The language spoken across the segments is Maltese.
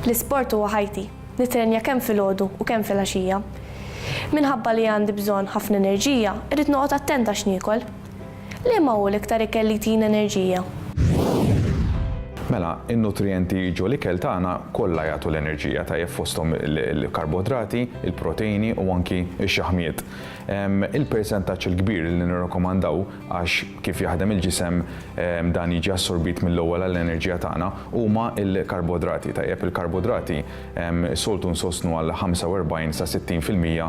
L-isport huwa ħajti. Nittrenja kemm filgħodu u kemm filgħaxija. Minħabba li għandi bżonn ħafna enerġija, irrid noqgħod attent għax niekol. Liema hu l-iktar ikel li jtina enerġija? Mela, in-nutrijenti li jiġu l-ikel tagħna kollha jagħtu l-enerġija tajjeb fosthom il-karbodrati, il-proteini u anki x-xaħmijiet. Il-persentaġġ il-kbir li nirrakkomandaw għax kif jaħdem il-ġisem dan jiġi assorbit mill-ewwel għall-enerġija tagħna, huma l-karbodrati. Tajjeb, il-karbodrati soltu nsostnu għal 45 sa 60 fil-mija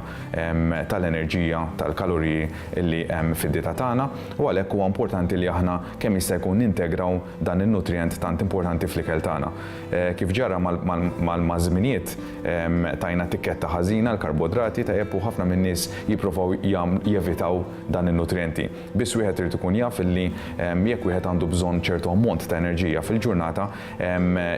tal-enerġija, tal-kaloriji li hemm fid-dieta tagħna u għalhekk huwa importanti li aħna kemm jista' jkun nintegraw dan in-nutrijent tant importanti fl-ikel tagħna. Kif ġara maż-żminijiet tajna tikketta ħażina għall-karbodrati, tajjeb, u ħafna min-nies jipprovaw jevitaw dan in-nutrijenti. Biss wieħed irid ikun jaf li jekk wieħed għandu bżonn ċertu ammont ta' enerġija fil-ġurnata,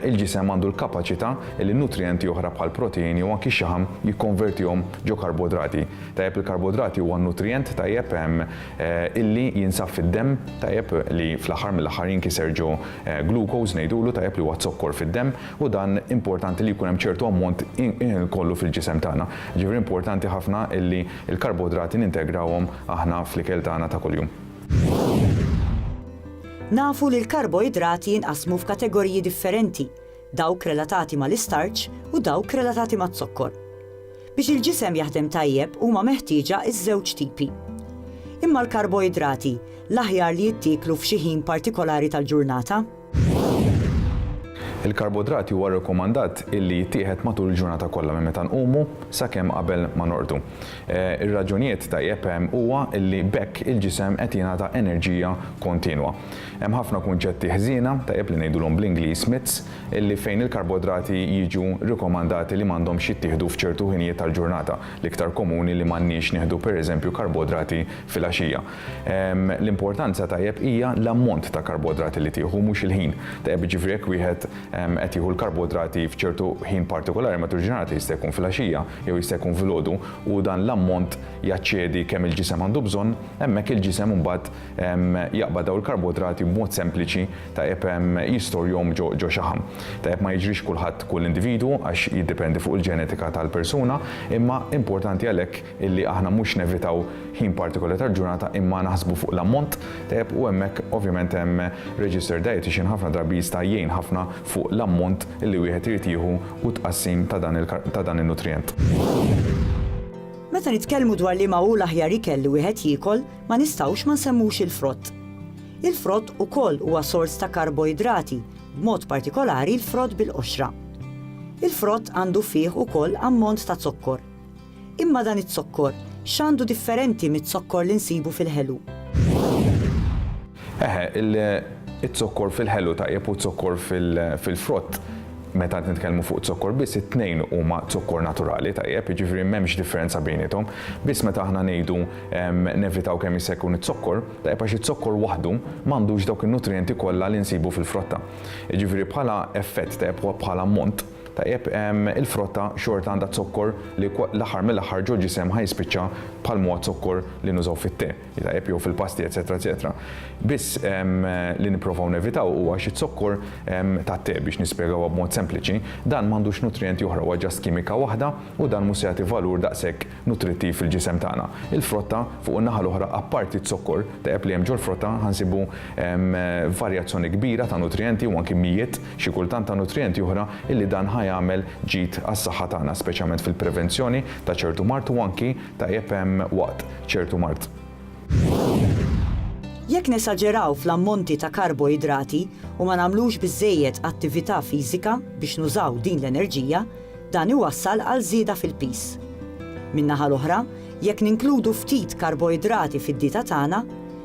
il-ġisem għandu l-kapaċità li nutrijenti oħra bħal proteini u anki x-xaħam jikkonvertihom ġo karbodrati. Tajjeb il-karbodrati huwa nutrijent tajjeb illi jinsab fid-demm tajjeb li fl-aħħar mill-aħħar jinkiser ġo glucose ngħidulu tajjeb li huwa zokkor fid-demm u dan importanti li jkun hemm ċertu ammont kollu fil-ġisem tagħna. Jiġifieri importanti ħafna illi Il-karbodrati nintegrawhom aħna fl-ikel tagħna ta' kuljum. Nafu li l-karboidrati jinqasmu f'kategoriji differenti, dawk relatati mal-istarċ u dawk relatati maz-zokkor. Biex il-ġisem jaħdem tajjeb huma meħtieġa ż-żewġ tipi. Imma l-karboidrati l-aħjar li jittieklu f'xi ħin partikolari tal-ġurnata? Il-karbodrati huwa rrekomandat illi jittieħed matul il-ġurnata kollha minn meta nqumu sakemm qabel ma norqdu. Ir-raġunijiet tajjeb hemm huwa illi b'hekk il-ġisem qed jingħata enerġija kontinwa. Hemm ħafna kunċetti ħżiena, tajjeb li ngħidulhom bl-Ingliż myths, illi fejn il-karbodrati jiġu rrikomandati li m'għandhomx jittieħdu f'ċertu ħinijiet tal-ġurnata, l-iktar komuni li m'għandniex nieħdu pereżempju karbodrati fil-għaxija. L-importanza tajjeb hija l-ammont ta' karbodrati li tieħu mhux il-ħin. Tajjeb jiġifieri jekk wieħed qed jieħu l-karbodrati f'ċertu ħin partikolari matul il-ġurnata jista' jkun fil-għaxija jew jista' jkun filgħodu u dan l-ammont jaċċedi kemm il-ġisem għandu bżonn, hemmhekk il-ġisem imbagħad jaqbad dawn il-karbodrati b'mod sempliċi tajjeb jistorjhom ġo xaħam. Tajjeb ma jiġrix kulħadd kull individwu għax jiddependi fuq il-ġenetika tal-persuna imma importanti għalhekk illi aħna mhux nevitaw ħin partikolari tal-ġurnata imma naħsbu fuq l-ammont tajjeb u hemmhekk ovvjament hemm registered dietitian ħafna drabi jista' jgħin ħafna fuq l-ammont li wieħed irid jieħu u t-tqassim ta' dan in-nutrijent. Meta nitkellmu dwar liema hu l-aħjar ikel li wieħed jiekol, ma nistgħux ma nsemmux il-frott. Il-frott ukoll huwa sors ta' karboidrati, b'mod partikolari l-frott bil-qoxra. Il-frott għandu fih ukoll ammont ta' zokkor. Imma dan iz-zokkor, x'għandu differenti miz-zokkor li nsibu fil-ħelu? Eħe, iz-zokkor fil-ħelu tajjeb u z-zokkor fil-frott, meta qed nitkellmu fuq zokkor biss, it-tnejn huma zokkor naturali tajjeb, jiġifieri m'hemmx differenza bejniethom. Biss meta aħna ngħidu nevitaw kemm jista' jkun iz-zokkor, tajjeb għax iz-zokkor waħdu m'għandux dawk in-nutrijenti kollha li nsibu fil-frotta. Jiġifieri bħala effett tajjeb u bħala ammont, Tajjeb, il-frotta xorta għandha zokkor li l-aħħar mill-aħħar ġol-ġisem ħa jispiċċa bħal m'huwa z-zokkor li nużaw fit-te, tajjeb, jew fil-pasti, eċċetera, eċċetera. Biss li nipprovaw nevitaw huwa xi zokkor tat-te, biex nispjegawha b'mod sempliċi, dan m'għandux nutrijenti oħra, huwa ġast kimika waħda u dan mhux se jagħti valur daqshekk nutrittiv fil-ġisem tagħna. Il-frotta, fuq in-naħa l-oħra, apparti z-zokkor tajjeb li hemm ġol-frotta, ħa nsibu varjazzjoni kbira ta' nutrijenti u anki mijiet, xi kultant, ta' nutrijenti oħra illi dan ħa jagħmel ġid għas-saħħa tagħna, speċjalment fil-prevenzjoni ta' ċertu mard u anki tajjeb waqt ċertu mard. Jekk nesaġeraw fl-ammonti ta' karboidrati u ma nagħmlux biżżejjed attività fiżika biex nużaw din l-enerġija, Dan iwassal għal żieda fil-piż. Min-naħa l-oħra, jekk ninkludu ftit karboidrati fid-dieta tagħna,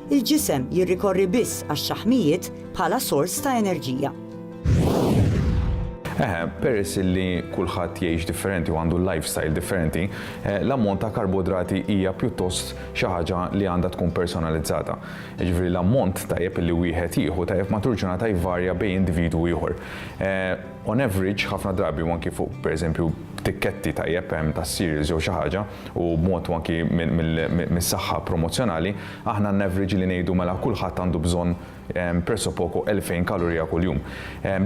il-ġisem jirrikorri biss għax-xaħmijiet bħala sors ta' enerġija. Eħe, peress li kulħadd jgħix differenti u għandu lifestyle differenti, eh, l-ammont ta' karboidrati hija pjuttost xi ħaġa li għandha tkun personalizzata. Jiġifieri l-ammont tajjeb li wieħed jieħu tajjeb matul ġurnata jvarja bejn individwu ieħor. Eh, On average, ħafna drabi u anki fuq pereżempju tikketti tajjeb hemm ta' cereals jew xi ħaġa u b'mod u anki mis-saħħa promozzjonali, aħna n-average li ngħidu mela kulħadd għandu bżonn presso poco 2,000 kalorija kuljum.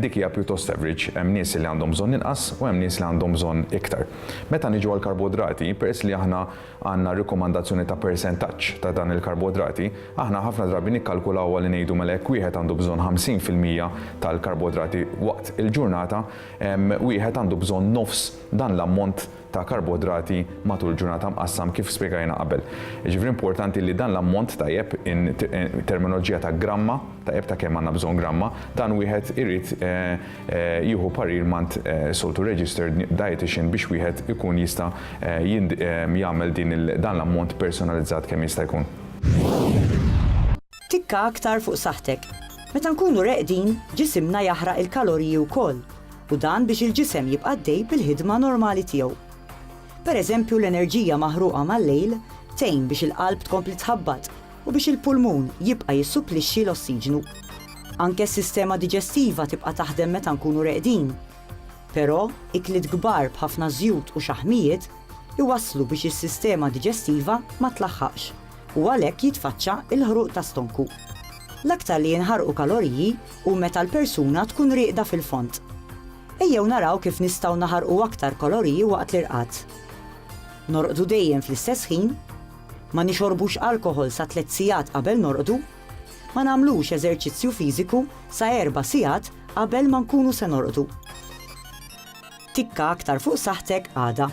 Dik hija pjuttost average, hemm nies li għandhom bżonn inqas u hemm nies li għandhom bżonn iktar. Meta niġu għall-karbodrati, peress li aħna għandna rikomandazzjoni ta' persentaġġ ta' dan il-karbodrati, aħna ħafna drabi nikkalkulawha li ngħidu mela jekk wieħed għandu bżonn 50 fil-mija tal-karbodrati waqt il-ġurnata, wieħed għandu bżonn nofs dan l-ammont ta' karbodrati matul ġurnata mqassam kif spjegajna qabel. Jiġifieri importanti li dan l-ammont tajjeb in terminoloġija ta' gramma, tajjeb ta' kemm għandna bżonn gramma, dan wieħed irid jieħu parir mant soltu registered dietician biex wieħed ikun jista' jagħmel dan l-ammont personalizzat kemm jista' jkun. Tikka aktar fuq saħħtek. Meta nkunu reqdin, ġisimna jaħraq il-kaloriji wkoll, u dan biex il-ġisem jibqa' għaddej bil-ħidma normali tiegħu. Pereżempju l-enerġija maħruqa mal-lejl tgħin biex il-qalb tkompli tħabbat, u biex il-pulmun jibqa' jissupplixxi l-ossiġnu. Anke s-sistema diġestiva tibqa' taħdem meta nkunu reqdin. Però, ikliet kbar b'ħafna żjut u xaħmijiet iwasslu biex is-sistema diġestiva ma tlaħħaqx u għalhekk jitfaċċa l-ħruq ta' stonku. L-aktar li jinħarqu kaloriji hu meta l-persuna tkun rieqda fil-fond. Ejjew naraw kif nistgħu naħarqu aktar kaloriji waqt l-irqad. Norqdu dejjem fl-istess ħin. ma nixorbux alkoħol sa tliet sigħat qabel norqdu, ma nagħmlux eżerċizzju fiżiku sa erba' sigħat qabel ma nkunu se norqdu. Tikka aktar fuq saħħtek għada.